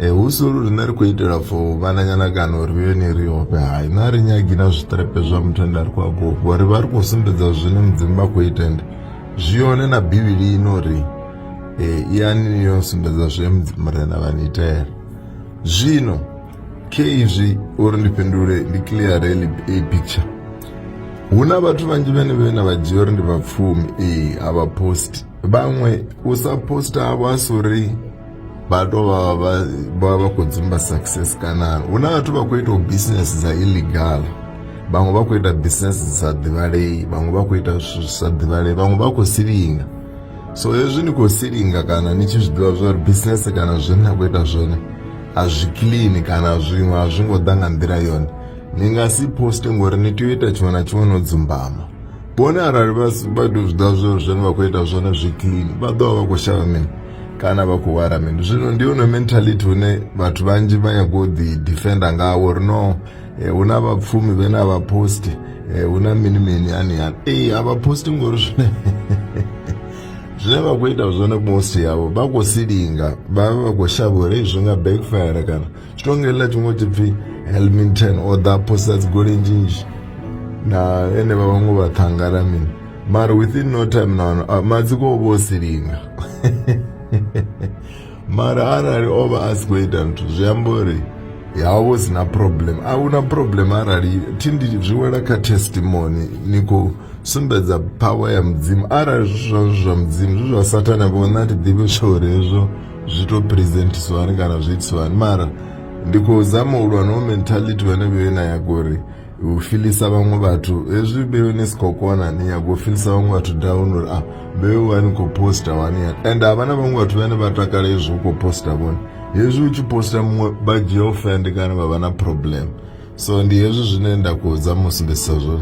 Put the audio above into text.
Eh, husulu rine ri kuitira for vana nyanakano ri ve ne ri hope hayi na ri nyagi na zvitrepe zva mutenda ri kwagogo ri va ri kusimbidza zvine mudzimu va kuitende zviyone na bhibili ino ri eh, iyani yo simbidza zve mudzimu murena vanitera zvino ke izvi uri ndipindure ndi clear rally a picture huna vatu vanji vene vena vajiyo ri ndi vapfumi ee eh, havaposti vamwe usaposta avo asuri vatova vava kudzimba success kana una vatova kuitawo business dzaillegal vamwe vakuita business dzisadhivarei vamwe vakuita zvisadhivarei vamwe vakusiringa so hezvi ni kusiringa kana nichizvidiva zvauri business kana zvina kuita zvona hazviclean kana zvimwe hazvingodanga ndira yona ningasiposte ngori nitoita chimwe na chimwe nodzimbama bone arali vado zvida zvinhu zvenu vakuenda zvona zveclean vadova vakushava mini kana vakuwara mini zvino ndione mentality une vatu vanji vanyagodi defender ngavo rino eh, una vapfumi vena vaposti eh, una mini mini yani yani ei havaposti ngori zvine zvine vakuita zvona kumosti yavo vakusilinga vava vakushava here izvonga backfire kana chitongerera chingoti pfi helmington or the posters golenjinji naene vavangu vathangara mina mari within no time nano ah, madziko vosiringa mari arari ova asi kuita ntu zviyambori yavo zina problem auna problem arari tindi zviwela ka testimony niko sumbedza power ya mudzimu arari zvizvazvo zvamudzimu zvizvasatana vona tidhive shore izvo zvitopresentiswani kana zviitswani mara ndikuzama ulwa no mentality vanenge venayo gore ufilisa vamwe vatu ezvi bewe nesikokwana niyagofilisa vamwe vatu download ah bewe wani kuposta wani and havana vamwe vatu vane vatakala izvo kuposta vona hezvi uchiposta mumwe bagirlfriend kana vavana problem so ndihezvi zvinoenda kuudza musimbisa zvona